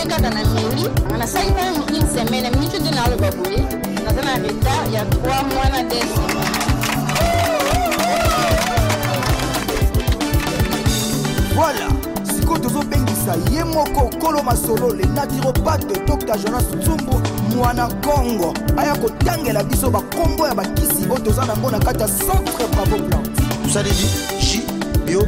kaka na mimi nasali na une semaine mimi te nde naaloba boye naza na retard ya 3 mois na des voilà sikoyo tozobengisa ye moko kolo masolo le naturopate dr jonas tsumbu mwana kongo aya kotangela biso bakombo ya bakisi oyo toza nango na kati ya centre bravo plante tosaleli ji bio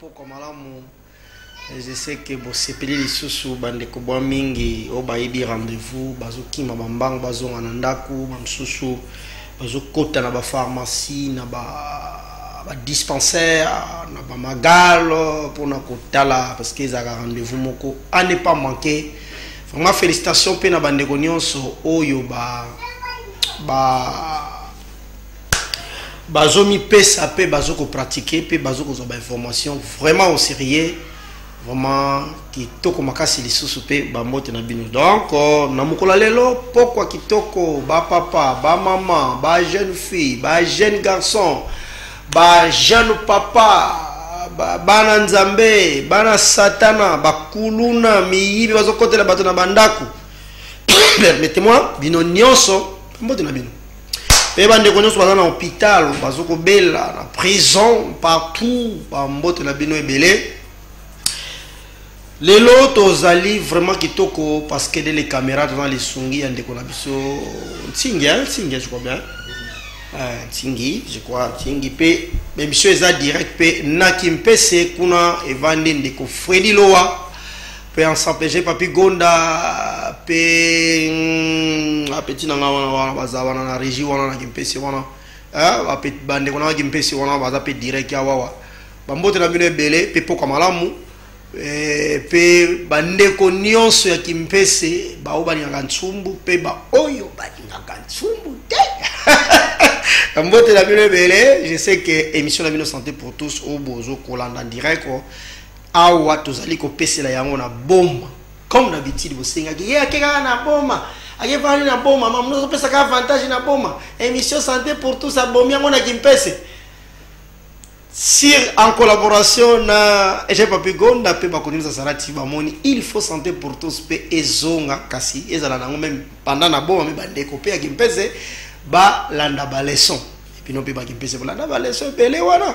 Pokwa malamu je sais que bosepeli lisusu bandeko bwa mingi oyo bayebi rendez-vous bazokima bambangu bazonga na ndako bamosusu bazokota na bapharmacie na badispensaire ba na bamagale mpona kotala parce que ezalaka rendez-vous moko a ne pas manquer vraiment félicitation mpe na bandeko nyonso oyo ba, ba bazo mi pesa pe bazo ko pratiquer pe bazo ko ba information vraiment au sérieux vraiment kitoko makasi lisusu pe ba mbote na bino donc euh, na mokola lelo pokwa kitoko ba papa ba maman ba jeune fille ba jeune garçon ba jeune papa bana nzambe bana satana bakuluna miyibi bazokotela bato na bandako permettez-moi bino nyonso mbote na bino mpe bandeko nyonso baza na hôpital bazokobela na prison partout bambote na bino ebele lelo tozali vraiment kitoko parce que de les caméras toza na lisungi ya ndeko na biso ntingi ntingi je crois bien euh, ntingi je crois ntingi mpe émission eza direct mpe na kimpese kuna evandi ndeko fredi lowa pe ensemble je papi gonda pe mm, apeti na nga wana wana baza wana na régie wana na kimpese wana eh, bandeko na kimpese wana baza pe direct ya wawa bambote na bino ebele pe pokwa malamu eh, pe bandeko nyonso ya kimpese baoyo balingaka nsumbu pe baoyo balingaka nsumbu te mbote na bino ebele je sais que émission na bino santé pour tous oyo bozo kolanda direct awa tozali kopesela yango na boma comme d'habitude bosengaki ye ake kaka na boma ake vandi na boma mamuno azopesaka avantage na boma émission santé pour tous abomi yango na kimpese sur en collaboration na ege papigonda mpe bakonimisa salati bamoni il faut santé pour tous mpe ezonga kasi ezala nango meme pendant na boma me bandeko mpe ya kimpese balanda baleson bino mpe bakimpese bolanda baleson ebele wana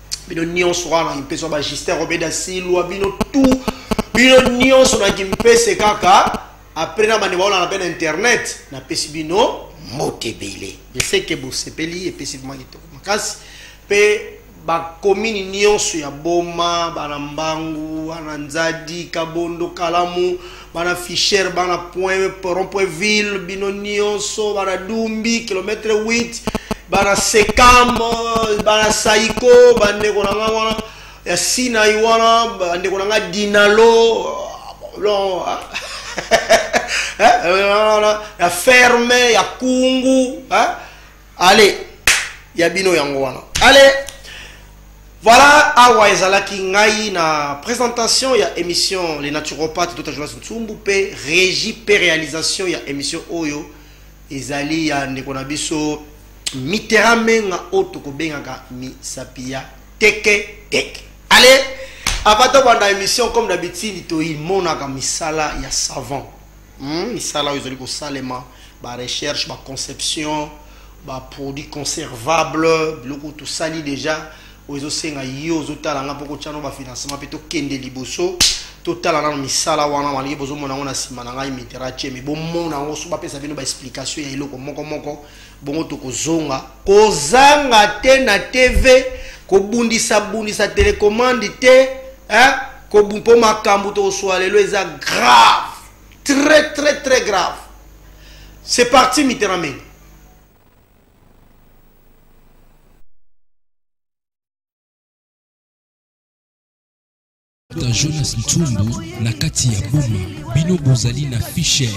bino nyonso kaka na kimpese ba justin robeda silwa bino tout bino nyonso na kimpese kaka apres na bande baolana mpe na internet napesi bino moto ebele eseke bosepeli epesi vrima kitoko makasi mpe bakomini nyonso ya boma bana mbangu wana nzadi kabondo kalamu bana fisher bana point rond point ville bino nyonso bana dumbi kilometre 8 bana sekam bana saiko bandeko na ngai wana ya sinai wana bandeko na ngai dinalo ah, eh, ya ferme ya kungu eh? ale ya bino yango wana ale voilà awa ezalaki ngai na présentation ya émission les naturopathes dota jonas nsumbu mpe régie mpe réalisation ya émission oyo ezali ya ndeko na biso mitera menga oyo tokobengaka misapi ya teke teke ale avant tobanda émission comme d'habitude toimonaka misala ya savant Hmm, misala oyo ezali kosalema barecherche baconception baproduit conservable biloko tosali déjà oyo ezosenga yo ozotala nga mpo kotya no bafinancement mpe tokende liboso totala nano misala wana maliki bozomona yango na nsima na ngai mitera tie me bomona yango so bapesa bino baexplication ya eloko moko moko bongo tokozonga kozanga te na tv kobundisabundisa telekomande te eh? mpo makambo tokoswa lelo eza grave très très très grave c'est parti mitterrand mengi Dr Jonas Ntumbu na kati ya Boma, bino bozali na Fisher,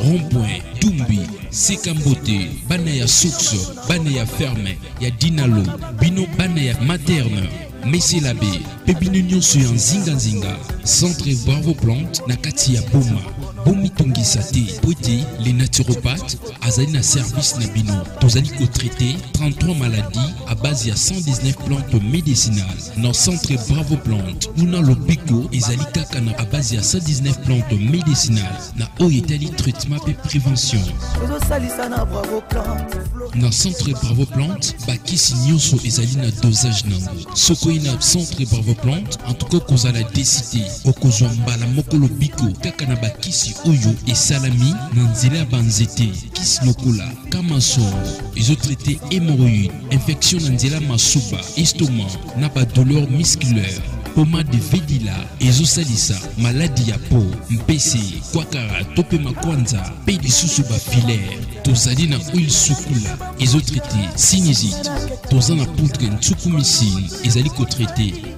Rond-point, Tumbi, Seka Mbote, bana ya Source, bana ya Ferme, ya Dinalo, bino bana ya Materne, Mese Labe, mpe bino nyonso ya nzinganzinga, Centre Bravo Plante na kati ya Boma. bomitungisa te mpo ete le naturopathe azali na service na bino tozali kotraite 33 maladies à base ya 119 plantes médicinales na centre bravo plante kuna lobiko ezali kaka na abase ya 119 plante medicinal na oyo etali traitement mpe prévention na centre bravo plante bakisi nyonso ezali na dosage nango soki oye na centre bravo plante antuka okozala deside okozwa mbala moko lobiko kaka na bakisi oyo esalami na nzela ya banzete kisi lokola Kamasoro ezo traite hémorroïde, infection na nzela masuba, estomac na ba douleur musculaire. Pomade Vedila ezo salisa maladi ya po, mpese, kwakara to pe makwanza pe lisusu ba filaire. Tozali na huile sukula ezo traite sinusite. Toza na poudre nsukumisini ezali ko traite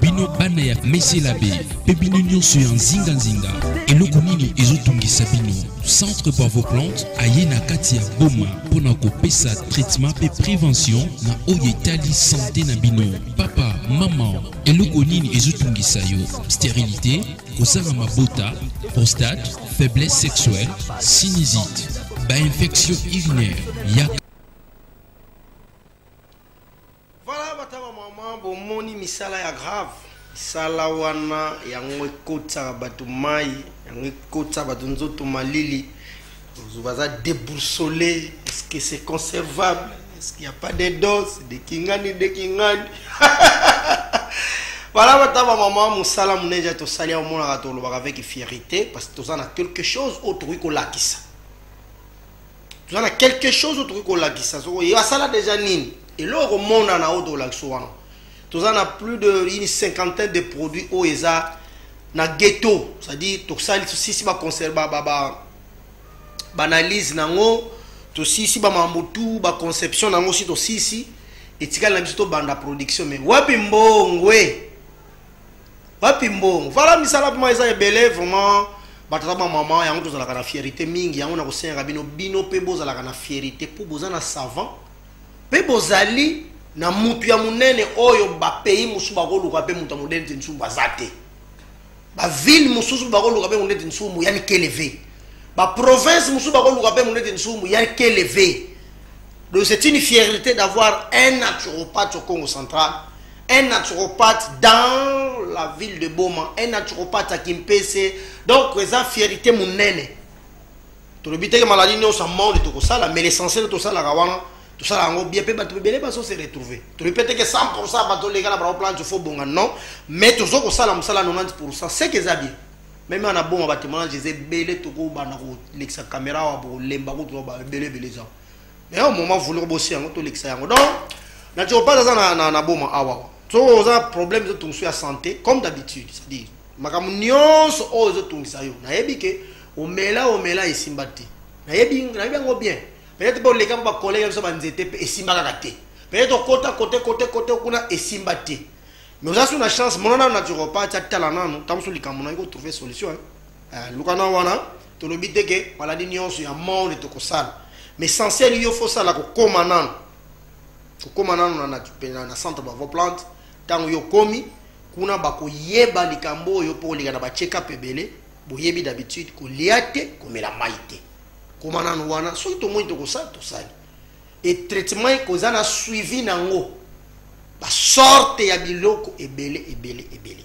bino bana ya meselabe mpe bino nyonso ya nzinganzinga eloko nini ezotungisa bino centre bravo plante aye na kati ya boma mpo na kopesa traitement mpe prévention na oyo etali sante na bino papa mama eloko nini ezotungisa yo sterilité kozanga mabota prostate faiblesse sexuelle sinusite bainfection urinaire ya Voilà batama mama bomoni misala ya grave misala wana yango ekotisaka bato mai yango ekotisa bato nzoto malili baza deboursole est-ce que c'est conservable est-ce qu'il n'y a pas de dose de kingani de kingani voilà batama mama mosala moneja tosali yango omonaka tolobaka avec fierité parce que toza na quelque chose oyo tokoki kolakisa toza na quelque chose oyo tokoki kolakisa soko ye asala deja nini eloko ekomonana oyo tokolakisa wana toza na plus de une cinquantaine de produits oyo eza na ghetto c'est-à-dire tosali tosisi baconserve baanalyse na yango tosisi bamambo tu baconception na yango si tosisi etikali na biso tobanda production mai wapi mbongwe wapi mbongo vala misala mpoma eza ebele vraiment batata bamama yango tozalaka na fierité mingi yango nakosengaka bino bino mpe bozalaka na fierité mpo boza na savant mpe bozali na mutu ya monene oyo bapays mosusu bakoluka mpe moto ya monene te nsumu baza te baville mosusu bakoluka mpe monete nsumu yani keleve baprovince mosusu bakoluka mpe monete nsumu yani keleve donc c'est une fierté d'avoir un naturopathe au congo central un naturopathe dans la ville de Boma, un naturopathe à Kimpese. Donc, eza fierté monene. tolobi teke maladie nyonso amande tokosala mais l'essentiel tosalaka wana tosalaka yango bien mpe bato ebele bazo se retrouve tolobi mpe teke 100 pourcent bato oleka na bango plante fo bonga non mais tozo kosala mosala 90 pourcent seke eza bien meme ana boma batemoignage eza ebele tokobanda kolekisa kamera awa bokolemba kutu ebele ebele eza mais au moment voulez bosser yango to lekisa yango donc na tio pas aza na na, na boma awa so oza problème zo tungsu ya santé comme d'habitude c'est dire makambo nyonso oyo ezo tungisa yo nayebi ke omela omela esimba te nayebi nayebi yango bien peut-être pe oleka mpo bakolege biso banzete mpe esimba kaka te peut-être okota kote kote kote kuna esimba te mais oza su na chance mona nano naturopathe atala nano ntango so likambo nayo kotrouve solution eh, luka na wana tolobi te ke maladi nyonso ya monde tokosala mais essentiel yo fo osala kokóma nano kokóma nano na centre bavo plante ntango yo okomi kuna bakoyeba likambo oyo mpo oleka na bachekap ebele boyebi d'habitude kolia te komela mai te koma nano wana soki tomoni tokosala tosali e traitement ekoza na suivi na yango basorte ya biloko ebele ebele ebele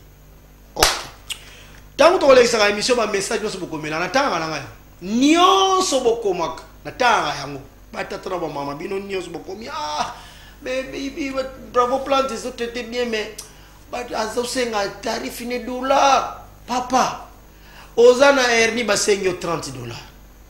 ntango tokolekisaka émission bamessage nyonso bokomela natangaka na ngai nyonso bokomaka natangaka yango batata na bamama bino nyonso bokomi ah, bravo plante ezotraite bien mais azosenga tarif ne dola papa oza na herni basengi yo 30 dollars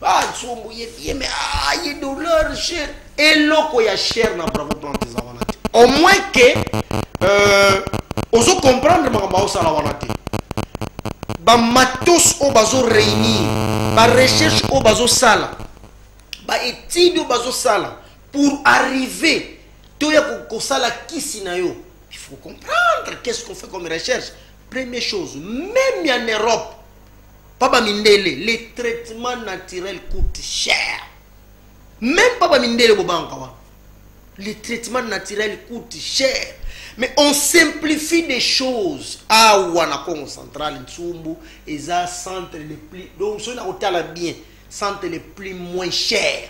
bazombo ye bien mais ah, ye dollar cher eloko ya cher na bravo plante eza wana te au moins ke euh, ozo comprendre makambo aosala wana te bamatos oyo bazo réunir barecherche oyo bazosala baétude oyo bazosala pour arriver toya kosala kisi na yo il faut comprendre qu'est ce qu'on fait comme recherche première chose même en europe pas ba mindele les traitements naturels coûtent cher même pas ba mindele bobanka wana les traitements naturels coûtent cher mais on simplifie des choses awa na congo central nsumbu eza centre le plus donc soki nakotala bien centre le plus moins cher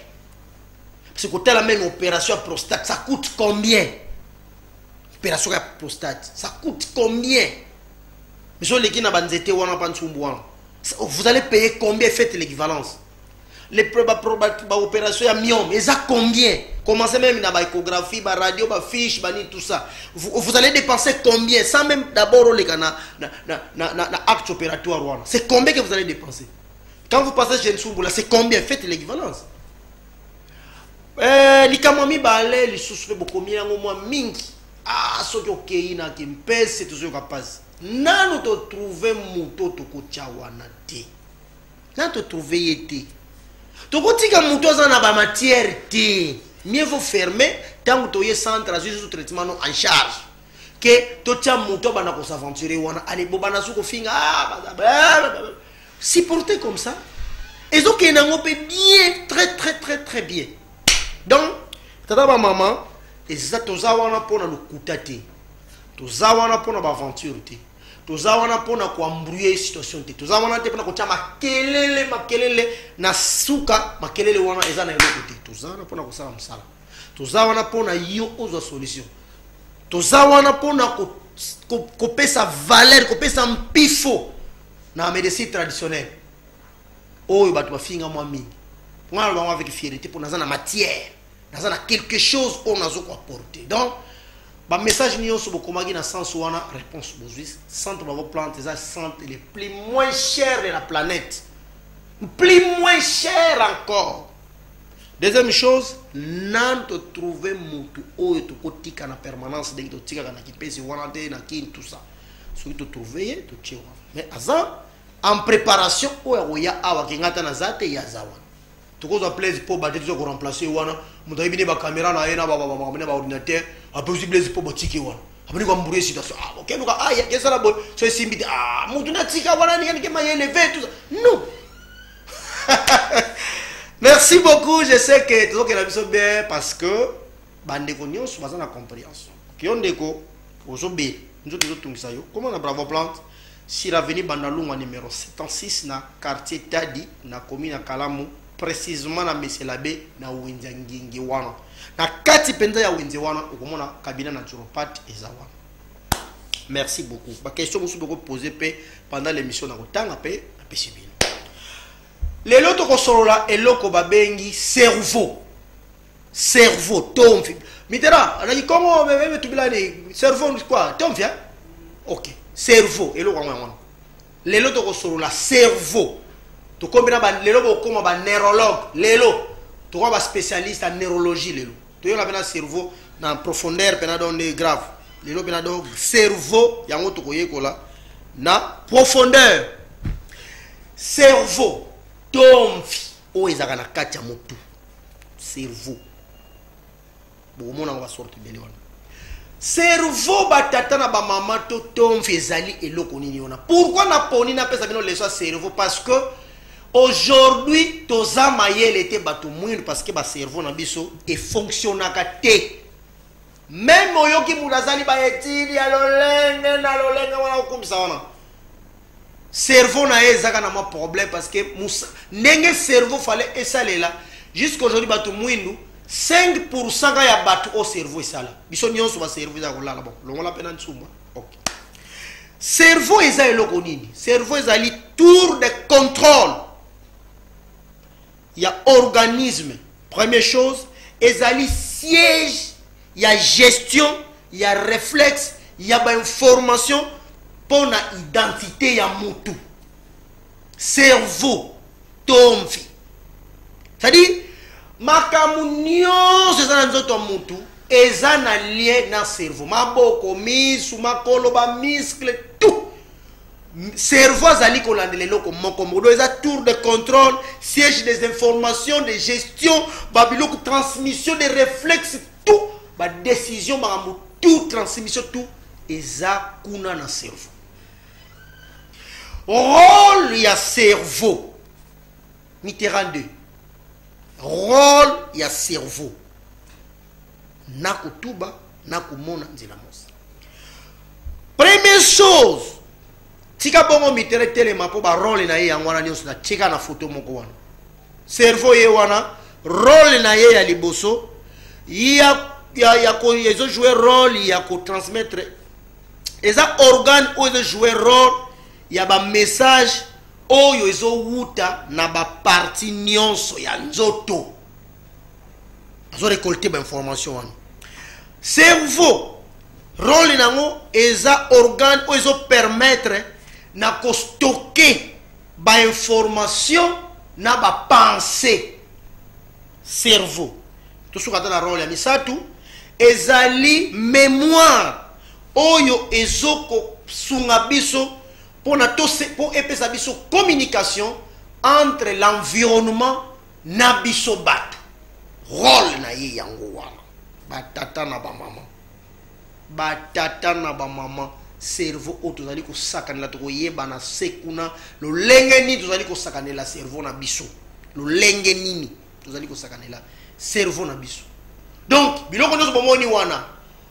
parce que kotala meme opération ya prostate ça coûte combien opération ya prostate ça coûte combien miso oleki na banzete wana mpa nsumbu wana vous allez payer combien faites l'équivalence les baopération ya miome eza combien commencez même na baéchographie baradio bafiche banini tout ça vous, vous allez dépenser combien sans même d'abord oleka na, na, na, na, na, na acte opératoire wana c'est combien que vous allez dépenser quand vous passez chez nsumbu là c'est combien faites l'équivalence Eh, likambo ya mibale lisusu mpe bokomi yango mwa mingi ah, soki okei na kempese tozoyoka mpasi nanu totrouve moto tokotya wana te nanu totrouve ye te tokotika moto aza na bamatière te mieux vaut ferme ntango toye centre azwi susu traitement no en charge ke totya moto abanda kosaventure wana ale bobanda su kofinga ah, supporter comme ça ezokende yango mpe bien très très très très bien donc tata bamama eza toza wana mpo na lokuta te toza wana mpo na baaventure te toza wana mpo na koambrouye situation te toza wana te mpo na kotya makelele makelele na suka makelele wana eza na eloko te toza wana mpo na kosala mosala toza wana mpo na yo ozwa solution toza wana mpo na kopesa valeur kopesa mpifo na medecine traditionnelle oyo bato bafinga mwa mingi ngai na bango avec fierité mpo naza na matière naza na quelque chose oyo nazo koapporte donc bamessage nyonso bokomaki na sens wana réponse bozwi centre bango plante eza centre le plus moins cher de la planète plus moins cher encore deuxième chose nani totrouve motu oyo tokotika na permanence ndenge totikaka na kipesi wana te na kini tout ça soki to trouver ye to tiewa mais aza en préparation oyo akoya awa kenga ata naza te ye aza wana tokozwa blaise poba te toza koremplace ye wana moto ayebi ne bacaméra na ye na baordinateur apesi blaise poba tike wana abandi koambrouye situation ah, okeluka ah, kesala boye so esimbi te ah, motu natika wana yanike mayeleve tout non merci beaucoup je sais que tozokela biso bien parce que bandeko nyonso baza na comprehension yo ndeko ozobela nzoto ezotungisa yo koma na bravo plante sur avenue bandalungwa numero 76 na quartier tadi na komi na kalamu précisément na meselabe na wenze ya ngenge wana na kati mpenza ya wenze wana okomona kabina naturopate eza wana merci beaucoup baquestion mosusu bokopose mpe pendant l'émission na kotanga mpe napesi bino lelo tokosolola eloko babengi cerveau cerveau tomfi mitera alaki kongo meme tubilani cerveau quoi tomfi hein ok cerveau eloko yango yango lelo tokosolola cerveau tokomi na lelo bokoma ba neurologue lelo tokoma ba spécialiste ya neurologie lelo toyoka mpena cerveau na profondeur mpena donc nde grave lelo mpena donc cerveau yango tokoyekola na profondeur cerveau tomfi oyo ezalaka na kati ya motu cerveau bokomona yango basorte ebele wana cerveau batata na bamama to tomfi ezali eloko nini wana pourkui naponi napesa bino leso ya cerveau parce que aujourd'hui toza mayele te bato mwindu parce que bacerveau na biso efonctionnaka te meme oyoki moto asali baetide ya lolenge na lolenge wana okumisa wana cerveau na ye ezaka na mwa problème parce que ndenge cerveau fale esalela jusqu'à aujourd'hui bato mwindu 5 pourcent ka ya bato oyo cerveau esala biso nyonso bacerveau ezala kolala bon longola mpe na nsumba ok cerveau eza eloko nini cerveau ezali tour de contrôle ya organisme première chose ezali siège ya gestion ya réflexe ya bainformation mpo na identité ya mutu cerveau tomvi c'est-à-dire makambo nyonso eza na nzoto ya mutu eza na lien na cerveau maboko misu makolo bamiskle tout cerveau azali kolandela eloko moko modo eza tour de contrôle siège des informations de gestion babiloko transmission de réflexe tout badécision makambo tout transmission tout eza kuna na cerveau role ya cerveau mitterrand 2 role ya cerveau nakotuba nakomona nzela mosi première chose tika bongo mitere telema mpo barole na ye yango wana nyonso natika na foto moko wana cerveau ye wana role na ye ya liboso ya, ya, ya ko, ezojoue role ya kotransmettre eza organe oyo ezojoue role ya bamessage oyo ezowuta na baparti nyonso ya nzoto azo récolter ba information wana cerveau role na yango eza organe oyo ezo permettre na kostoke bainformation na bapense cerveau tosuka ata na role ya misato ezali mémoire oyo ezokosunga biso mpona mpo epesa biso communication entre l'environnement na biso bato role na ye yango wana batata na bamama batata na bamama cerveau oyo tozali kosakanela tokoyebana se kuna lolenge nini tozali kosakanela cerveau na biso lolenge nini tozali kosakanela cerveau na biso donc biloko nyonso bomoni wana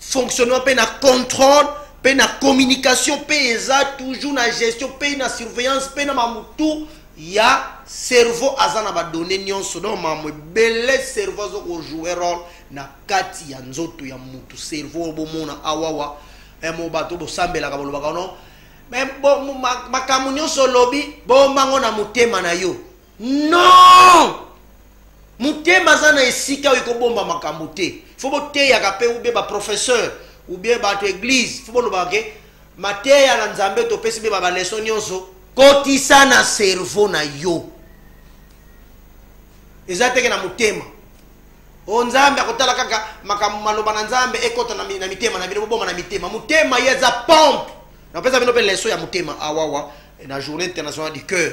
fonctionnement mpe na contrôle mpe na communication mpe eza toujours na gestion mpe na surveillance mpe na mamutu ya cerveau aza na badonne nyonso donc mamu ebele cerveau aza kojoue role na kati ya nzoto ya mutu cerveau oyo bomona awawa mo bato bosambelaka bolobaka no makambo nyonso olobi bombango na motema na yo non motema aza na esika oyo ekobomba makambo te fo boteyaka mpe ube baprofesseur ubien bato eglise fo bolobaka ke mateya na nzambe topesi mpe babaleso nyonso kotisa na cerveau na yo eza teke na motema o nzambe akotala kaka makambo maloba na nzambe ekota na mitema na bino boboma na mitema motema ye eza pompe napesa bino mpe leso ya motema awawa na journée internationale du cœur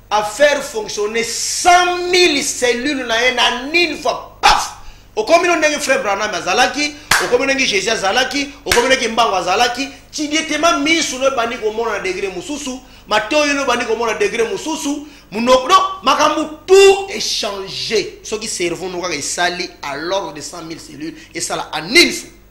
a faire fonctionner 100.000 cellules na ye na nini fois paf okomi no ndenge frère branham azalaki okomi ndenge jésus azalaki okomi ndenge mbango azalaki tidietema misu no ebandi komona na degre mosusu matoyi no ebandi komona degre mosusu munoko no makambo tout echange soki cerveau no kaka esali à l'ordre de 100 000 cellules esala en une fois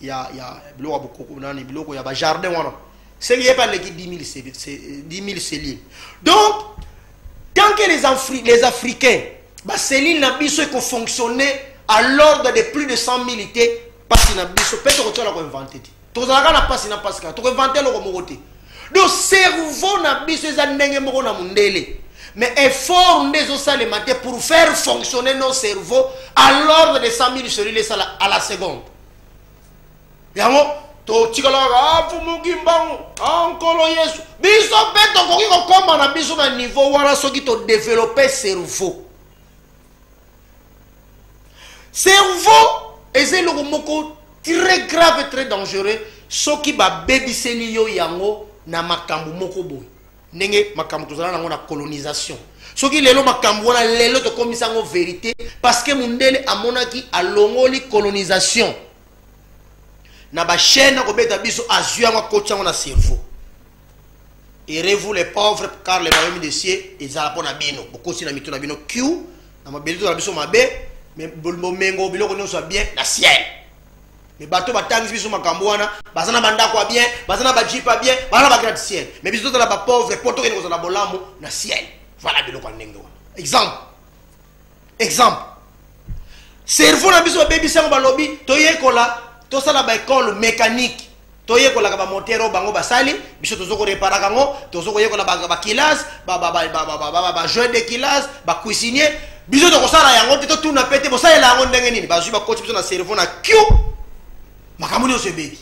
ya ya biloko ya bokoko nani biloko ya bajardin wana seli ye mpe aleki 10000 selile donc tant que les, Afri les africains baselile na biso ekofonctionne à l'ordre de plus de 100 000 te mpasi na biso mpe tokotyala koinvente te tozalaka na mpasi na mpasi kaka tokoinvente eloko moko te donc cerveau na biso eza ndenge moko na mondele mais effort nde ezosalema te pour faire fonctionner nos cerveau à l'ordre de 100 000 selile esala à la seconde yango totikalaka ah, mfumuki mbangu ah, nkolo yesu biso mpe tokoki kokoma na biso na niveau wana soki todevelope cerveau cerveau eza eloko moko très grave très dangereux soki babebiseli yo yango na makambo moko boye ndenge makambo tozala nango na colonisation soki lelo makambo wana lelo tokomisa yango verité parce que mundele amonaki alongoli colonisation na bachaine akobeta biso azwi yango akoti yango na cerveau erez-vous les pauvres car le royaume de cieux ezala mpo na bino bokosi na mito na bino q na mabele tozala biso mabe bomengo biloko nyonso ya bien na ciel mais bato batangisi biso makambo wana baza na bandako ya bien baza na bajipe ya bien baza na bagrade ciel mais biso tozala bapauvre mpo tokende kozala bolamu na ciel voilà biloko ya ndenge wana exemple exemple cerveau na biso babebisi yango balobi toyekola tosala baekole mécanique toyekolaka bamotere oyo bango basali biso tozo koreparaka yango tozo koyekola bakilase bajeu de kilase bacuisinier biso tokosala yango te totuna mpe te bosalela yango ndenge nini bazwi bakoti biso na cerveau na kio makambo nyonso ebebi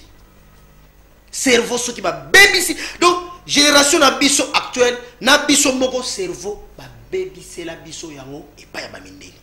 cerveau soki babebisi donc génération na biso actuelle na biso moko cerveau babebisela biso yango epai ya bamindele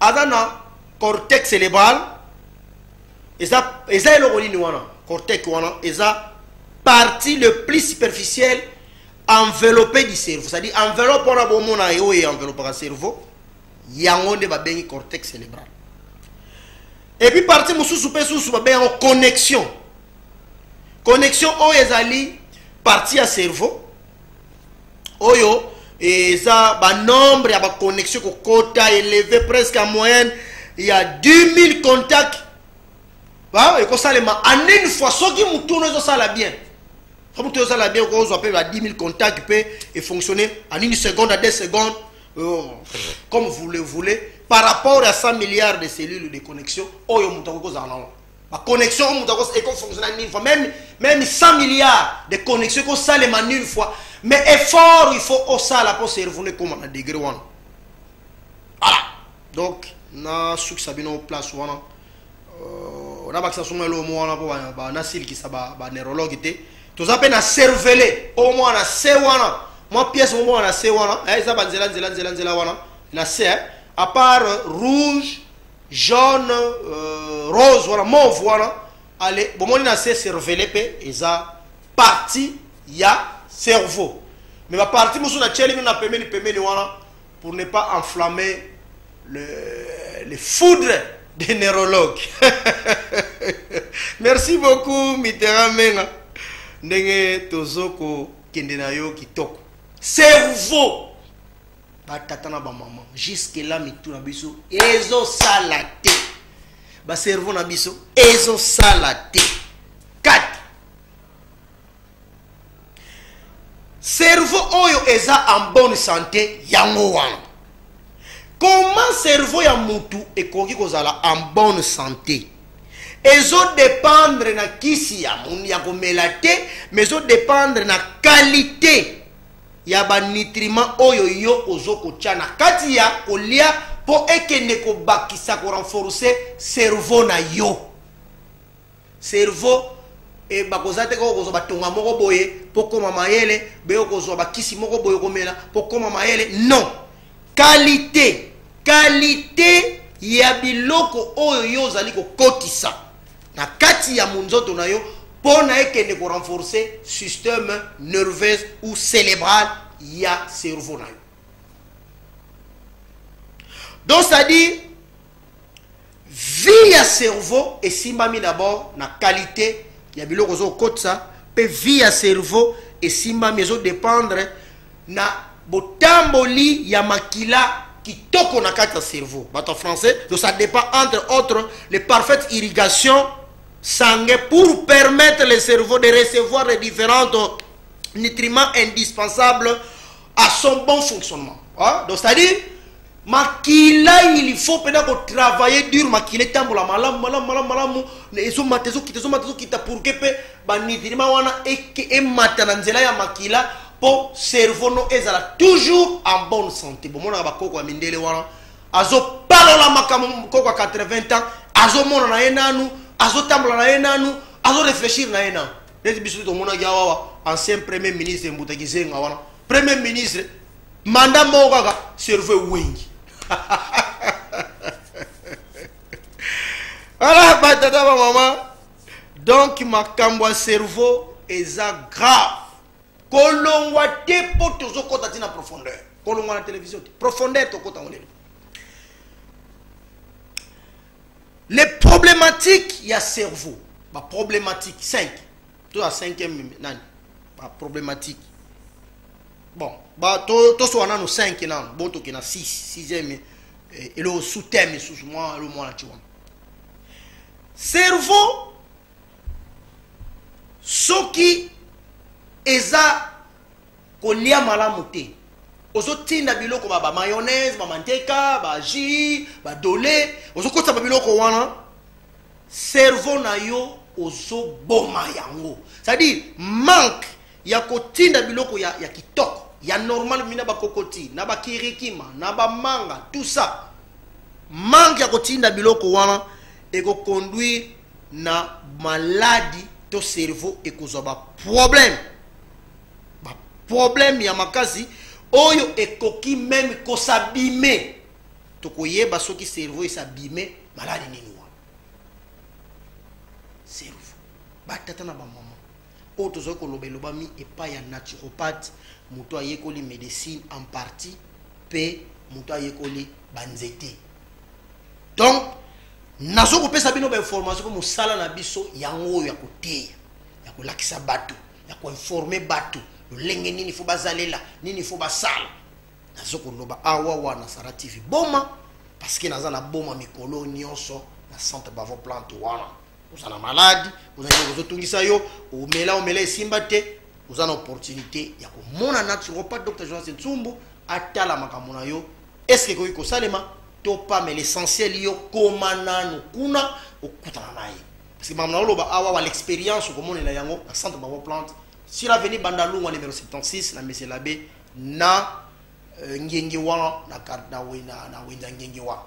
aza na cortex cerebral eza eza eloko nini wana cortex wana eza partie le plus superficielle enveloppé du cerveau c'est-à-dire enveloppe wana bomona ye oyo enveloppaka cerveau yango nde babengi cortex célébral epuis parti mosusu mpe susu babengi yango connexion connexion oyo ezali parti ya cerveau oyo eza banombre ya baconnexion kokota eleve presque en moyenne ya 10 000 contact ekosalema en une fois soki motuno ezosala bien so motu ezosala bien okozwa mpe ba 10 000 contact mpe efonctionne en une seconde à deux secondes euh, comme vous le voulez par rapport à 100 milliards de cellules de connexion oyo moto akoki kozala nango ba connexion oyo moto ekofonctiona nini fois même même 100 milliards de connexion ekosalema nini fois mais effort il faut osala mpo cerveau no ekóma na degré wana voilà donc nasukisa bino place wana euh, nabakisa songo elomo wana mpo nasilikisa baneurologue te toza mpe na cervele o mwa na se wana mwa pièce moko mwa na se wana eh, eza banzela nzela nzela nzela wana na se eh. à part euh, rouge jaune euh, rose wana mauve wana ale bomoni na se cervele mpe eza parti ya cerveau mais baparti mosusu natyeli mino na pembeni pembeni wana pour ne pas enflammer le, le foudre des neurologues merci beaucoup mitera menga ndenge tozo kokende na yo kitoko cerveau batata na bamama jusque la mitu na biso ezosala te baservo na biso ezosala te kati cerveau oyo eza en bonne santé yango wana comment cerveau ya mutu ekoki kozala en bonne santé ezodépendre na kisi ya komela te mais ezodépendre na qualité ya ba nutriments oyo yo ozo kotya na kati ya kolia mpo ekende kobakisa korenforce cerveau na yo cerveau e eh, bakoza te koko kozwa batonga moko boye mpo koma mayele beye kozwa bakisi moko boye komela mpo koma mayele non kalite kalite ya biloko oyo yo ozali kokotisa na kati ya monzoto na yo mpo na ekende korenforce systeme nerveuse ou célébrale ya cerveau na yo donc c'est-à-dire Vie ya cerveau esimbami d'abord na qualité ya biloko ozo kotsa pe vie ya cerveau esimbami ezo dépendre na botamboli ya makila kitoko na kati ya cerveau bato ya français donc ça dépend entre autres les parfaites irrigations sangue pour permettre le cerveau de recevoir les différentes nutriments indispensables à son bon fonctionnement. Hein? Donc, c'est-à-dire, makila il faut pena ko travailler dur makila etambola malamu malamu malamu malamu ezomata ezokita ezomata ezokita pour ke mpe banitrima wana emata na nzela ya makila mpo cerveau no ezala toujours en bonne santé bomonaka bakoko ya mindele wana azopalola makambo koko ya 80 ans azomonana ye nanu azotambola na ye nanu azoréfléchir na ye nanu neti biso nde tomonaki awawa ancien premier ministre mbuta kizenga wana premier ministre manda moko kaka cerveau ewengi ala batata bamama donc makambo ya cerveau eza grave kolongwa te mpo tozokɔta ntina profondeur kolongwa na télévision te profondeur tokɔta yango lelo les problématiques ya cerveau ba problématique 5 to ya 5e nani ba problématique bon ba to to so nanu 5 nanu bon to kena 6 6e eh, elo sous thème sous moi le moi tu vois cerveau soki eza kolia malamu te ozotinda biloko ba bamayonnaise bamanteka bajus badole ozokotisa babiloko wana cerveau na yo ozoboma yango c'est-à-dire manque ya kotinda biloko ya, ya kitoko ya normal mina bakokoti na bakirikima na bamanga tout ça manque ya kotinda biloko wana ekoconduire na maladi to cerveau ekozwa baproblème problème ya makasi oyo ekoki meme kosabime tokoyeba soki cerveau esabime maladi nini wana cerveau batata na bamama oyo tozali koloba elobami epai ya naturopathe moto ayekoli médecine en partie mpe moto ayekoli banzete donc nazo kopesa bino bainformation mpo mosala na biso yango oyo ya koteya ya kolakisa bato ya koinforme bato lolenge nini fo bazalela nini fo basala nazo koloba awa wana sara tv boma parceke naza na boma mikolo nyonso na centre bavo plante wana oza na maladi oza nini ozotungisa yo omela omela esimba te oza na opportunité ya komona naturopathe dr jonas nsumbu atala makambo na yo eske ekoki kosalema to pamela essentiel yo koma nanu kuna okutana na ye Parce que maman oloba awa wa l'expérience okomonela yango na centre bango plante sur avenue Bandalungwa numéro 76 na Monsieur l'abbé na euh, Ngengewa na na na, na Wenza Ngengewa.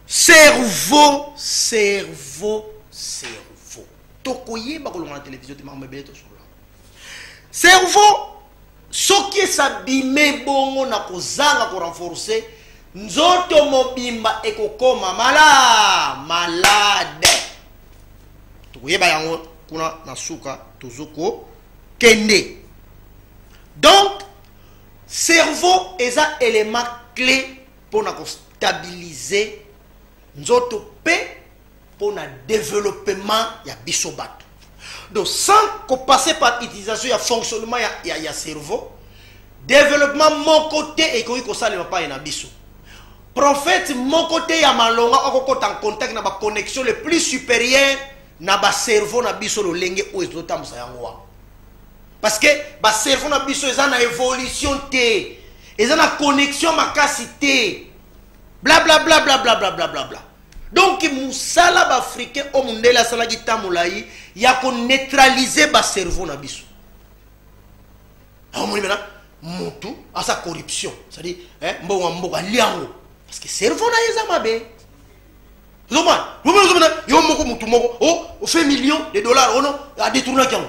Cerveau, cerveau, cerveau. Tokoyeba kolonga na télévision te maman ebele to solo. cerveau soki esabime bongo na kozanga korenforce nzoto mobimba ekokoma mala malade tokoyeba yango kuna na suka tozo kokende donc cerveau eza element clé mpo na kostabilize nzoto mpe mpo na developpement ya biso bato donc sans kopasser par utilisation ya fonctionnement ya, ya, ya cerveau developpement moko te ekoki kosalema pai na biso prophète moko te ya malonga okokota en contact na baconnexion le plus supérieur na bacerveau na biso lolenge oyo ezotambusa yango wana parce que bacerveau na biso eza na évolution te eza na connexion makasi te blablabla blablabla blablabla donc mosala baafricain oyo mondele asalaki ntan molai ya koneutralize bacerveau na biso aomoni mena motu asa corruption cestadire eh, mbongo ya mboka alia yango parce que cerveau na ye eza mabe ozomona yo moko motu moko ofe oh, million de dollars ono oh adetournaki yango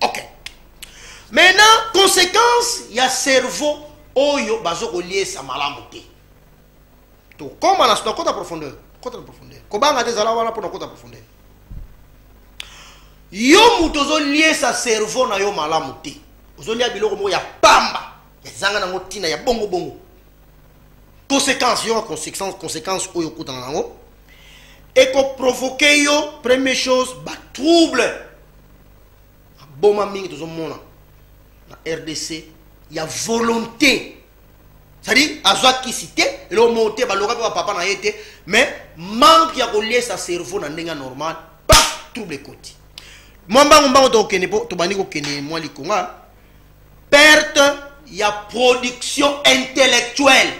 ok maintenant conséquence ya cerveau oyo bazokoliesa malamu te tokoma na kota profondeur kota na profondeur kobanga te zala wana mpo na kota profondeur yo moto ozoliesa cerveau na yo malamu te ozolia biloko moko ya pamba ezanga nango ntina ya bongo bongo conséquence yo conséquence conséquence oyo okutana nango ekoprovoke yo première chose batrouble aboma mingi tozomona na rdc ya volonté c'est-à-dire azwa kisi te eloko moko te baloka mpe bapapa na ye te mais manque ya koliesa cerveau na ndenge ya normal pa trouble ekoti mwa mbango mbango tokokende mpo tobandi kokende mwa likonga perte ya production intellectuelle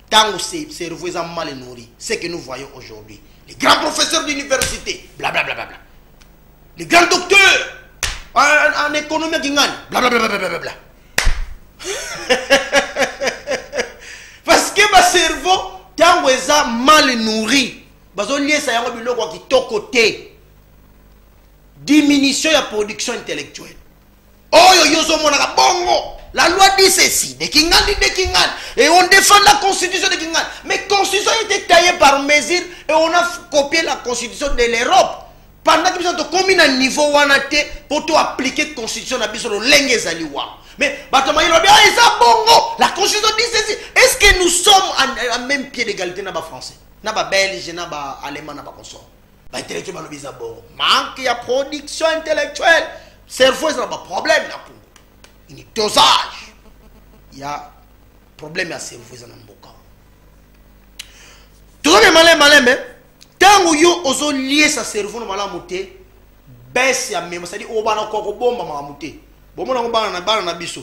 ntango cerveau eza mal nourri ce que nous voyons aujourd'hui les grands professeurs d'université blablabla les grands docteurs en, en économie aki ngani blablabla parce que bacerveau ntango eza mal nourri bazoliesa yango biloko ya kitoko te diminution ya production intellectuelle oyo yo ozomonaka bongo la loi dit ceci de kingandi de kingandi et on défend la constitution de kingandi mais constitution était taillée par mesure et on a copié la constitution de l'europe pendant que biso tokomi na niveau wana te mpo to appliquer constitution na biso lolenge ezali wana mais bato maye lobi ah, eza bongo la constitution dit ceci est ce que nous sommes en, en même pied d'égalité na bafrançais na babelge na baalemand na bakonsort ba intellectuel balobi eza bongo manque ya production intellectuelle cerveau eza na baproblème na congo ini dosage ya problème ya cerveau eza na mboka tozali maleme maleme ntango yo ozoliesa cerveau na malamu te bese ya mema sadi obana kokobomba makambo te bomona yango bana na biso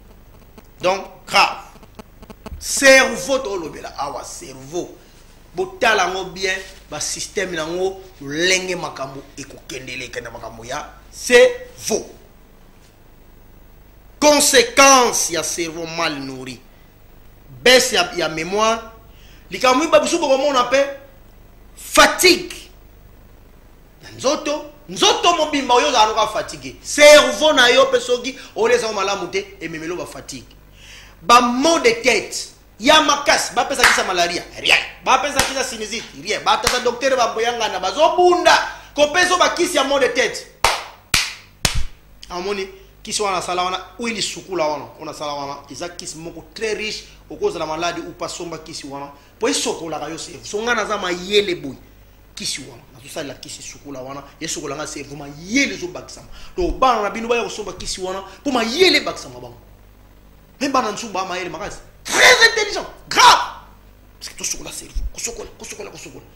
donc grave cerveau tolobela awa cerveau botala yango bien basysteme yango lolenge makambo ekokendeleka na makambo ya cerveau conséquence ya cerveau mal nourri baisse ya, ya mémoire likambo miba bisu bokomona mpe fatigue nzoto nzoto mobimba oyo ozala loka fatigue cerveau na yo mpe soki olezango malamu te ememelo ba fatigue ba mot de tête ya makasi bapesa kisa malaria rien bapesa kisa sinusite rien batata doktere bamboyangana bazobunda kopesa bakisi ya mot de tête amoni kisi wana asala wana oyo lisukula wana oyo nasala wana eza kisi moko très riche okozala maladi upa somba kisi wana mpo esokolaka yo cerveau so ngai naza mayele boye kisi wana nazosalela kisi sukola wana esokola ngai cerveau mayele ezobakisama to bana na bino baya kosomba kisi wana mpo mayele ebakisama bango me bana nsusu baa mayele makasi très intelligent grave parce que tosokola cerveau kosokola kosokola kosokola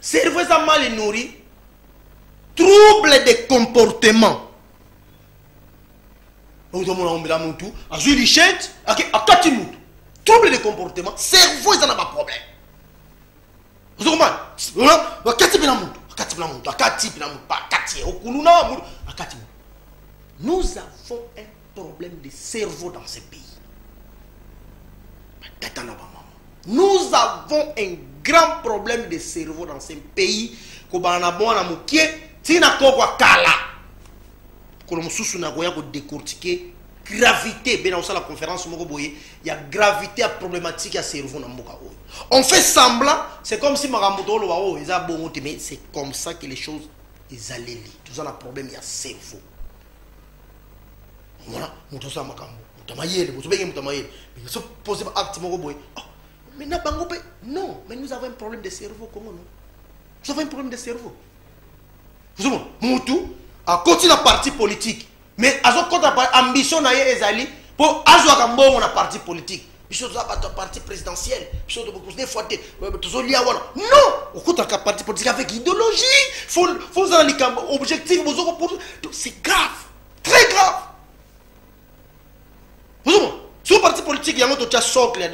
cerveau eza mal nourri trouble de comportement ozomona ombela mutu azwi lichete akati mutu trouble de comportement cerveau eza na baproblème ozokomana akati mpena mutu akati mpena mutu akati mpena mutu akati okuluna mutu akati mutu nous avons un problème de cerveau dans ce pays tata na bamama nous avons un grand problème de cerveau dans ce pays kobala na mwana mokie ntina kokwa kala kolo mosusu nakoya kodecortike gravité mpe nakosala conférence moko boye ya gravité ya problématique ya cerveau na mboka oyo on fait semblant c'est comme si makambo toloba oyo oh, eza bongo te mais c'est comme ça que les choses ezaleli toza na problème ya cerveau mwana moto osala makambo moto amayele bozobenge moto amayele so pose ba acte moko boye oh, mais na bango mpe non mais nous avons un problème de cerveau congo non nous avons un problème de cerveau ozomona motu akoti na parti politique mais azokota ambition na ye ezali mpo azwaka mbongo na parti politique biso toza bato ya parti présidentiel biso tobokusde fois te euh, tozolia wana non okutaka parti politique avec idéologie fo ozala likambo objectif bozoko pour c'est grave très grave ozoma so parti politique yango totya socle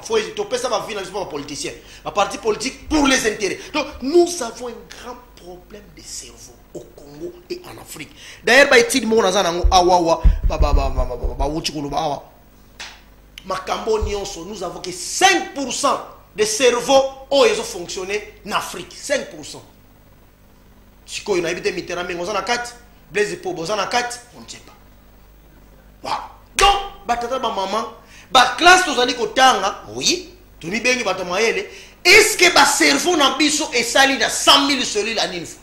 fo topesa bavi na biso mpo bapoliticien baparti politique pour les intérêts donc nous avons un grand problème de cerveau au congo et en afrique d'ailleurs baétude moko naza nango awawa bawuti koloba awa makambo nyonso nous avons que 5 pourcent de cerveau oyo ezo fonctionne na afrique 5 pourcent sikoyo nayebi te mitera menge oza na kati blaise po boza na kati on ne sait pas wow. donc batata bamama baklasse tozali kotanga oui tomibengi bato mayele est ce que bacerveau na biso esali na 100 000 celule anini fois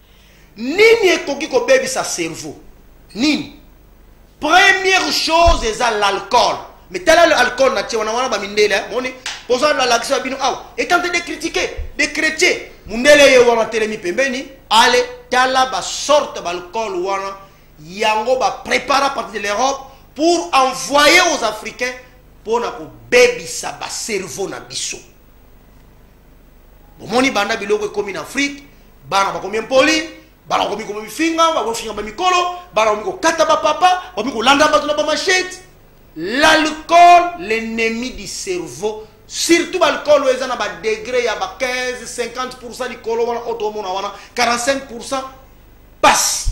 nini ekoki kobebisa cerveau nini première chose eza l'alcool mais tala le alcool na tie wana wana bamindele eh, moni poza nalakisa bino awa etante de critique de chrétien mundele ye wana telemi pembeni ale tala basorte baalcool wana yango baprépara partir de l'europe pour envoyer aux africains mpo na kobebisa bacerveau na biso bomoni banda biloko ekomi na afrique bana bakomi impoli bana bakomi komi mifinga bakofinga bamikolo bana bakomi kokata bapapa bakomi kolanda bato na bamashete l'alcool l'ennemi du cerveau surtout baalcool oyo eza na badegre ya ba 15 50 pourcent likolo wana oyo tokomona wana 45 pourcent pasi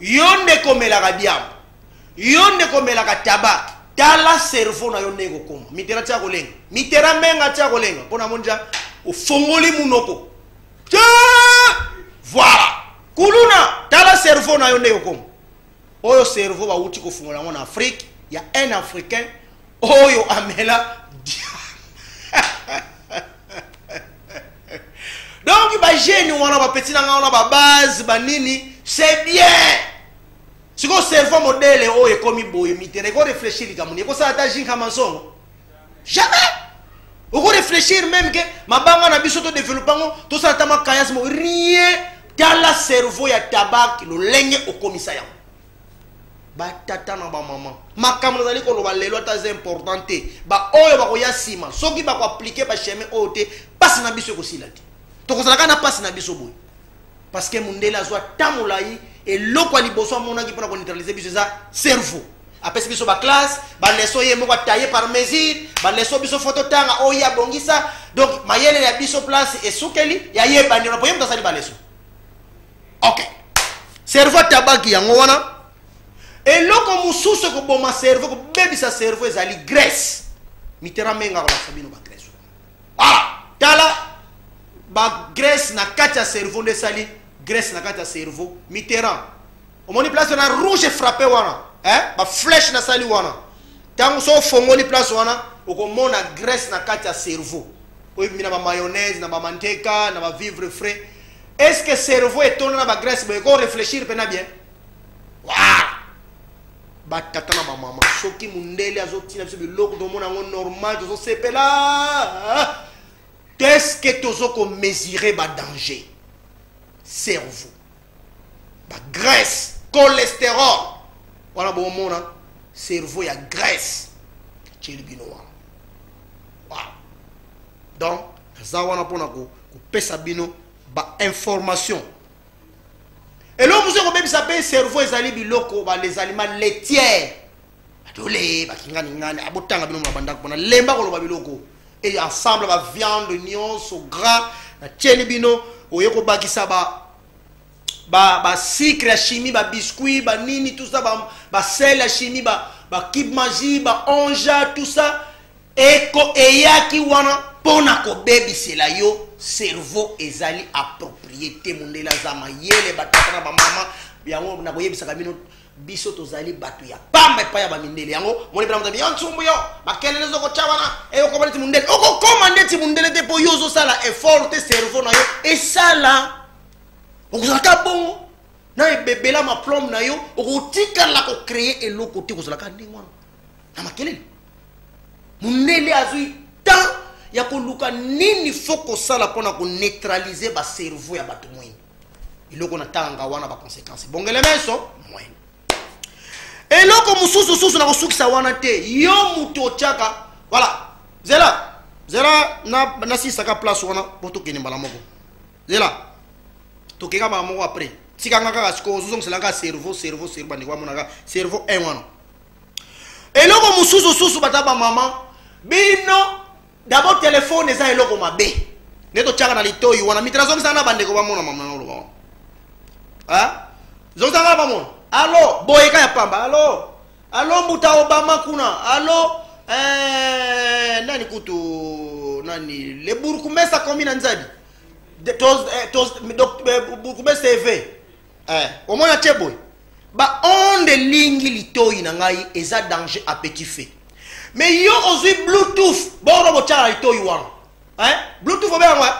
yo nde komelaka diamba yo nde komelaka tabak tala cerveau na yo ndenge kokoma mitera tia kolenga mitera menga tia kolenga mpo namoni ja ofongoli munoko voilà kuluna tala cerveau na yo ndenge kokoma oyo cerveau bawuti kofungola yango na afrique ya un africain oyo amela donc bagene wana bapeti na ngai wana babase banini c'est bien sikoyo cerveau modele oyo ekomi boye mitena ekoreflechir likambo nini ekosala ata jinka mansongo jamais okoreflechir meme ke mabanga na biso todevelope yango tosala ata makayasmo rien tala cerveau ya tabak lolenge okomisa yango batata na bamama makambo nazali koloba lelo ata eza important te baoyo bakoya nsima soki bakoaplike bachemin oyo te mpasi na biso ekosila te tokozalaka na mpasi na biso boye parceke mondele azwa ta molai eloko ya liboso amonaki mpona koneutralize biso eza cerveau apesi biso baklasse baleso ye moko ataye par mesure baleso biso fo totanga oyo ye abongisa donc mayele ya biso place esukeli yayebani ona po ye moto asali baleso ok cerveau atabaki yango wana eloko mosusu ekoboma cerveau kobebisa cerveau ezali grace mitera menga kolakisa bino bagrace voilà tala bagrace na kati ya cerveau nde esali grace na kati ya cerveau mitera omoni place wana rouge frappe wana eh? baflèche nasali wana ntango so ofongoli place wana okomona grace na kati ya cerveau oyo ebimi na ba mayonnaise na ba manteka na ba vivre frais est ce que cerveau etonda na ba graisse boye ko réfléchir mpena bien voilà batata na bamama soki mondele azotina biso biloko tomona yango normal tozosepela teske tozokomesure badanger cerveau bagrèce cholesterol wana bomona cerveau ya grèce atieli bino wana wow. donc naza wana mpona kopesa bino bainformation eloko mosu ekobebisa mpe cerveau ezali biloko balezalima letiere batole bakinganingani abotanga bino na bandako mpona lemba koloba biloko e ensemble baviande nyonso gras natyeli bino oye kobakisa ba ba ba sucre ya chimie ba biscuit ba nini tout ça ba ba sel ya chimie ba ba kib magie ba onja tout ça eko eyaki wana mpo na kobebisela yo cerveau ezali approprié te mondele aza mayele batata na bamama yango nakoyebisaka bino biso tozali bato ya pamba epai ya bamindele yango moni mpena moto yo nsumbu yo makelele ezokotya wana eyokoma ndeti mondele okokoma ndeti mondele te mpo yo ozosala effort te cerveau na yo esala okozalaka bongo na ebebela maplome na yo okotikala kocreye eloko te kozalaka ndenge wana na makelele mondele azwi temps ya koluka nini fo kosala mpo na koneutralize bacerveau ya bato mwini eloko natangaka wana baconséquence ebongele meso mwene eloko mosusu susu na kosukisa wana te yo moto otyaka voilà zela zela nasilisaka na place wana po tokende mbala moko zela tokeka mbala moko après tikanga kaka sikoyo ozozongisela kaka cerveau cerveau cerveau bandeko bamonaka cerveau 1 wana eloko mosusu susu bata bamama bino D'abord telephone eza eloko mabe. Ne to tchaka na litoyi wana mitana zongisa na bandeko ba mona mamna oloba. Hein? Zongisa na ba mona. Allo, boyeka ya pamba. Allo. Allo mbuta Obama kuna. Allo. Eh, nani kutu nani le burkumesa commune nzabi. Toz eh, toz eh, burkumesa eve. eh, omona te boye baonde elingi litoi na ngai eza danger à petit fait mais yo ozwi bluetooth boro botyaka litoi wana eh? bluetooth obeyango eh?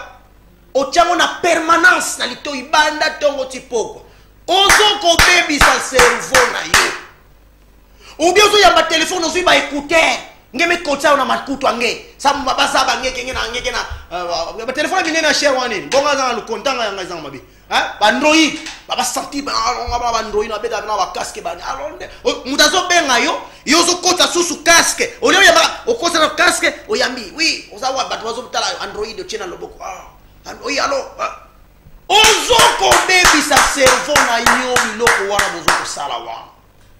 otyango na permanence na litoi banda ntongo ti pokwa ozokobebisa cerveau na yo obi ozoyamba telefone ozwi baécouteur nge mekotisa yo na makutu ange samba baza bangekenge na ngeke na euh, batelefone minene ya chere wana nini bongo azanga lokontanga yanga ezanga mabe hein ba ndroyi ba ba sentir ba longa ba ba ndroyi na beta na ba casque ba alonde oh, muta zo benga yo yo zo kota susu casque au lieu ya ba okosa na casque oyambi oui oza wa bato bazo tala android otie na loboko ah oyi alo ah. ozo kobebisa cerveau na yo biloko wana bozo kosala wana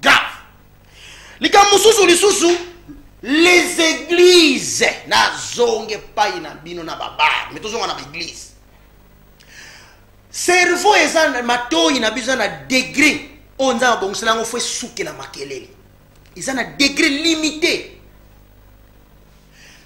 grave likambo mosusu lisusu les églises nazonga epai na bino na babare me tozonga na baeglise cerveau eza matoi na biso eza na degre oyo nzambe abongisela yango fo esukela makelele eza na degre limite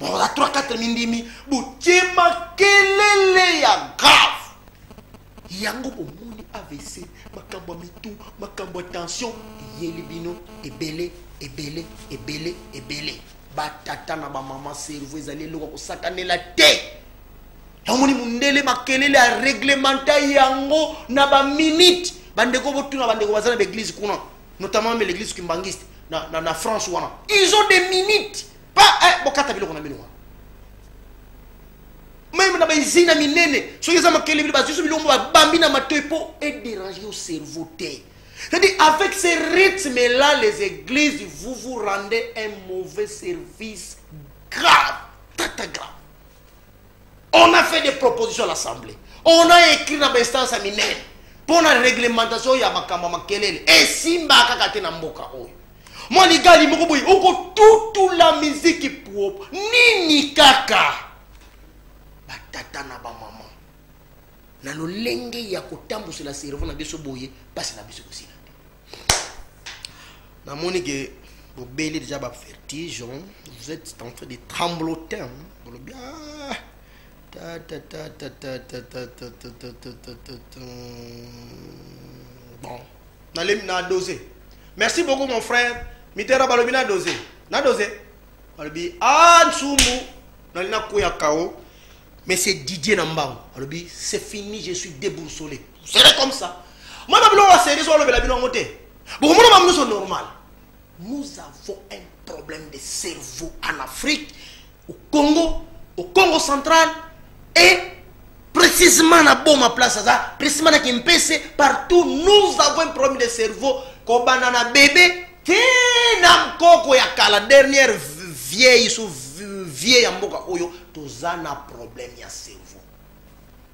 baza 3 4 mindimi botie makelele ya grave yango bomoni avc makambo ya mitu makambo ya tension eyeli bino ebele ebele ebele ebele batata na bamama cerveau ezali eloko ya kosakanela te omoni mondele makelele ya reglementa yango na baminute bandeko botuna bandeko baza na baeglise kuna notamment me l'église kimbangiste na, na, na france wana ils ont des minutes pa eh, bokata biloko na bino meme na baizina minene soki eza makelebele bazwiso bilombo babambi na matoi mpo ederange yo cerveau te c'est-à-dire avec ce rythme là les églises vous vous rendez un mauvais service grave tata grave on a fait des propositions à l'assemblée on a écrit na bainstance ya minene mpo na réglementation ya makambo ya makelele esimbaka kaka te na mboka oyo mwa ligali moko boye okotutula miziki puopo nini kaka batata na bamama na lolenge ya kotambwisela cerveau na biso boye mpasi na biso kosila namoni ke bobeli deja bavertige vous êtes en train de tremblotin bolobi bon nalemi na dose merci beaucoup mon frère mitera balobi na dose na dose balobi a nsumu nali nakwea kao monsieur didier na mbango alobi c'est fini je suis déboursolé c'est comme ça mwana biloko ya serie so alobela bino yango te bokomona bango nyonso normal nous avons un problème de cerveau en afrique au congo au congo central et précisément na boma place aza précisément na kimpese partout nous avons un problème de cerveau kobanda na bebe te na nkoko ya kala dernière vieille sous vie ya mboka oyo toza na problème ya cerveau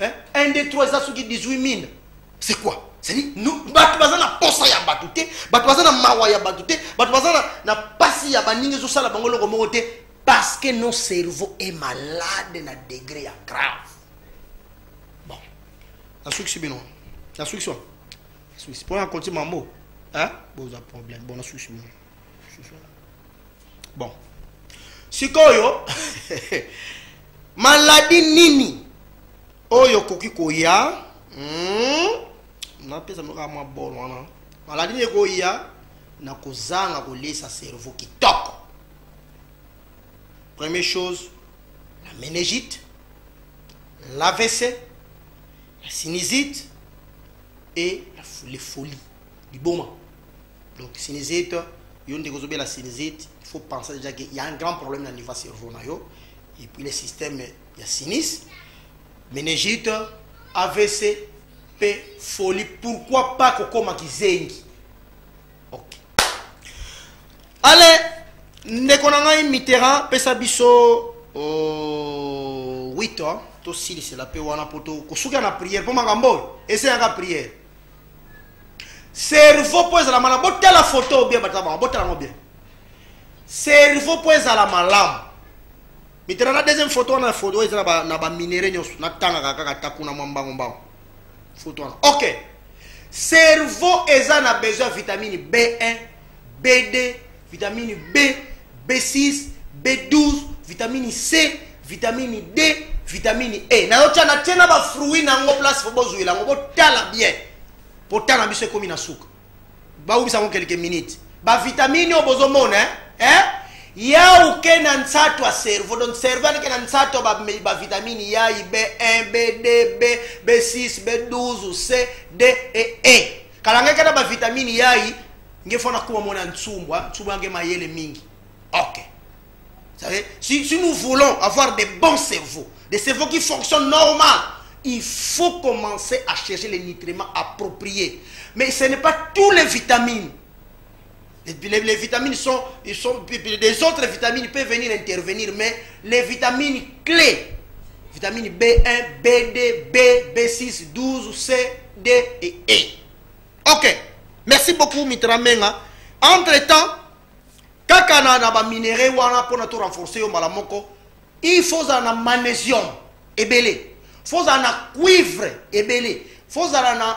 Hein? 1, 2, 3, ça suki 18 000. C'est quoi C'est-à-dire, nous, bato baza na posa ya bato te, bato baza na mawa ya bato te, bato baza na, na pasi ya baninga ezosala bango eloko moko te, parce que nos cerveau est malade na degré ya grave. Bon, nasukisi bino, nasukisi wana, nasukisi mpo na konti mambo, hein? boza problème, bon nasukisi bino. bon sikoyo maladi nini oyo okoki koya hmm? napesa noka mwa bol wana maladi nini ekoya na kozanga kolesa cerveau kitoko première chose la ménégite l'avc la sinusite et la, les folies liboma donc sinizite yo ndeko ozobela sinizite il faut penser déjà que y a un grand problème na niveau ya cerveau na yo et puis le système ya sinis menegite avc mpe folie pourquoi pas kokoma kizengi ok ale ndeko na ngai mitterrand pesa biso oh, 8 ans tosilisela mpe wana mpo kosuka na priere mpo makambo oyo eseyaka priere cerveau mpo ezala malamu botala foto obien batabaka botala yango bien cerveau mpo ezala malamu mitala na deuxième foto wana foto eza na baminere nyonso natangaka kaka ta kuna mwa mbango mbango foto wana ok cerveau eza na besoin ya vitamine b1 b2 vitamini B, B6, B12, vitamini C, vitamini D, vitamini E. Na yocha na tena ba fruits na ngo place faut bozuela yango botala bien. Potana biso ekomi na suka. Ba ubisa ngo quelques minutes. Ba vitamini oyo bozomona hein? eh? ya uke na nsato ya cerveau donc cerveau aleke na nsato ya bavitamini ya i b1 b2 b b6 b12 c d e e kalangaka na bavitamini yai nge fana kuma mona nsumbwa nsumbwa nge mayele mingi ok savez, si, si nous voulons avoir des bons cerveaux des cerveaux qui fonctionnent normal il faut commencer à chercher les nutriments appropriés mais ce n'est pas tous les vitamines Les, les, vitamines sont, ils sont, des autres vitamines peuvent venir intervenir, mais les vitamines clés, vitamines B1, B2, B, B6, 12, C, D et E. Ok. Merci beaucoup, Mitra Menga. Entre-temps, kaka na, na baminere wana mpo na to renforcer yo mbala moko il faut ozala na magnésium ebele faut ozala na cuivre ebele faut ozala na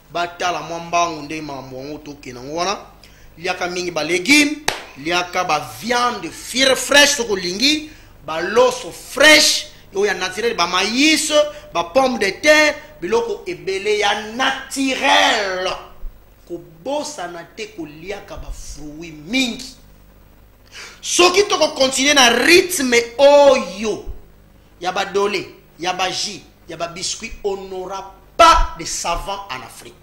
batala mwa mbangu nde makambo yango tokende yango wana liaka mingi balegume liaka baviande fire fraîche soki olingi baloso fraîche oyo ya naturel bamayis bapomme de terre biloko ebele ya naturel kobosana te koliaka bafruit mingi soki tokokontinue na rythme oyo ya ba dole ya ba jus ya ba biscuit on n'aura pas de savant en afrique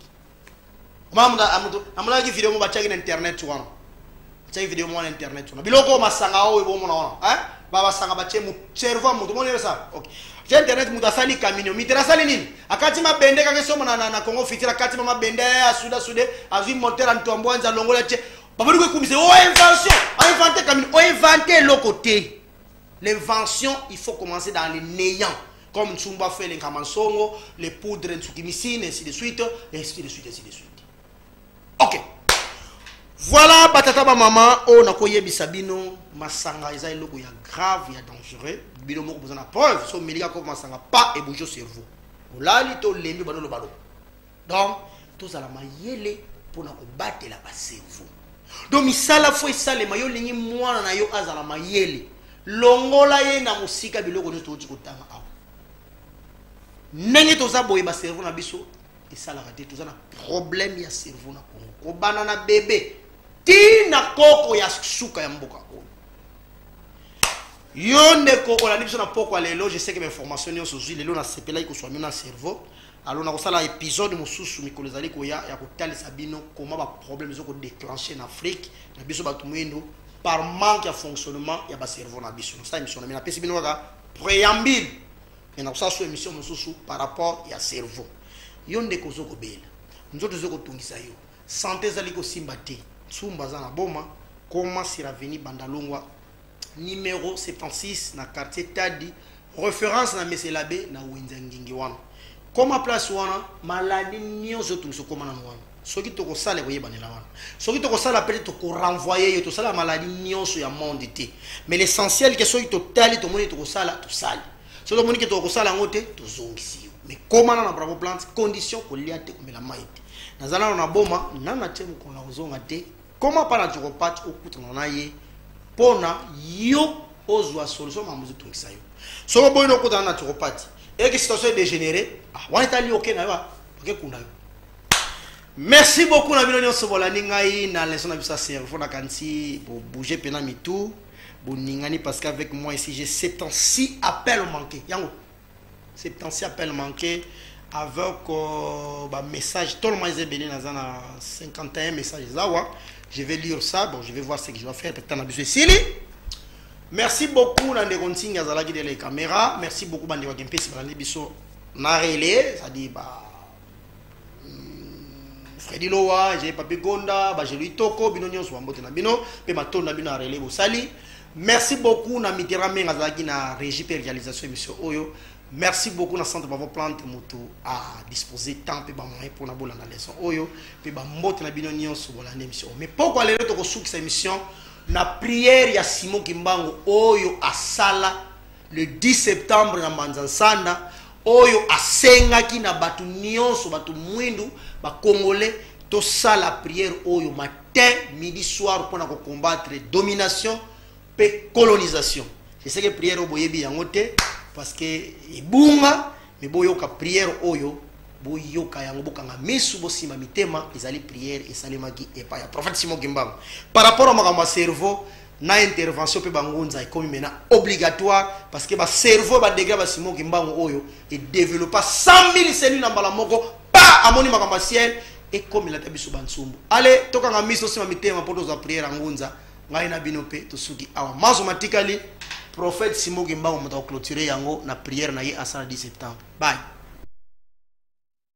amonaki video moko batiaki na internet wana batiaki video moko na internet wana biloko oyo masanga oyo bomona wana babasanga batie cerveau moto omoni esa okay je internet moto asali camino mitera asali nini akati mabende kaka esomba na, na, na congo fitira akati ma mabende asuda sude azwi motera ntoambwanza alongola tie babandi koekumisa o invention oinvente camino oinvente eloko te L'invention, il faut commencer dans le néant. Comme Tsumba fait les Kamansongo, les poudres Ntsukimissine, ainsi de suite, ainsi de suite, ainsi de suite. Ok. Voilà, batata ba maman, oh na koye bisabino, masanga eza eloko ya grave, ya dangereux. Bino moko besoin la preuve, so melika ko masanga pas et bouger cerveau. Olali to lembi bano lo balo. donc tozala mayele mpona kobatela baservo donc misala fo esalema yo olingi mwana na yo azala mayele longola ye na mosika biloko nyonso touti kotanga awa ndenge toza boye baservo na biso esalaka te toza na problème ya cerveau na congo kobanda na bebe ti na koko ya suka ya mboka oyo yo ndeko olandi biso na pokwa lelo je sais que bainformation nyonso ozwi lelo nasepelaki koswa mino na cerveau alo nakosala episode mosusu mikolo ezali koya ya kotalisa bino koma baproblème ezo kodeclenche na afrique na biso bato moindo par manque ya fonctionnement ya bacerveau na biso nasala émission na me napesi bino kaka préambile me nakosala so émission mosusu par rapport ya cerveau yo ndeko ozo kobela nzoto ezo kotungisa yo sante ezali kosimba te nsumba aza na boma koma siraveni bandalongwa numero 76 na quartier tadi reference na meselabe na wenza ngingi wana koma place wana maladi nyonso otungisa okoma nano wana soki tokosala ekoyebanela wana soki tokosala mpe tokorenvoye yo tosala maladi nyonso ya monde te mais l'essentiel ke soki totali tomoni tokosala tosali soki tomoni ke tokosala yango te tozongisi yo mais komana na bravo plante condition kolia te komela mai te naza nano na boma nana te mokolo na kozonga te koma mpa na jokopate okutana na ye mpo na yo ozwa solution makambo ezotungisa yo soki oboyi nokutana na jokopate eke situation edégénéré ah, wana etali oke na yo ah, bakekunda yo merci beaucoup na bino nyonso bolandi ngai na leson na biso ya cerveau nakanisi bobouge mpena mitu boningani parce qu'avec moi ici j'ai 7 ans si appel manqué yango Septentia appel manqué avec euh, ba message toloma eza ebele naza na 51 message eza wa je vais lire ça bon je vais voir ce que je dois faire peut-être na biso esili merci beaucoup na ndeko nsingi azalaki dele kamera merci beaucoup bandeko ya kempesi balandi biso na relais c'est-à-dire ba Freddy Loa, j'ai Papi Gonda, Bajelu Itoko, bino nyonso bambote na bino, pe matondo na bino ya relais bosali. Merci beaucoup na Mitera Menga azalaki na régie pe réalisation émission oyo. Merci beaucoup na centre Bravo Plante moto a disposer temps pe ba moyens pour na bolanda leçon oyo pe ba mbote na bino nyonso bolanda émission. Mais pourquoi lelo tokosukisa émission na prière ya Simon Kimbangu oyo asala le 10 septembre na mbanza nsanda oyo asengaki na bato nyonso bato mwindu bakongole tosala priere oyo matin midi soir mpo na kocombattre domination mpe colonisation eseke priere oyo boyebi yango te parce que ebunga me boyoka priere oyo boyoka yango bokanga misu bosimba mitema ezali priere esalemaki epai ya prophète simon kimbangu par rapport ya makambo ya cerveau na intervention mpe bangunza ekomi mena obligatoire parce que bacerveau badegra basimo kimbangu oyo edevelopa 100 000 cellules na mbala moko pa amoni makambo ya ciel ekomela ata biso bansumbu ale tokanga miso osima mitema mpo tozwa priere ya ngunza ngai na bino mpe tosuki awa mazo matikali prophète simo kimbangu moto akoclotire yango na priere na ye asala 10 septembre bye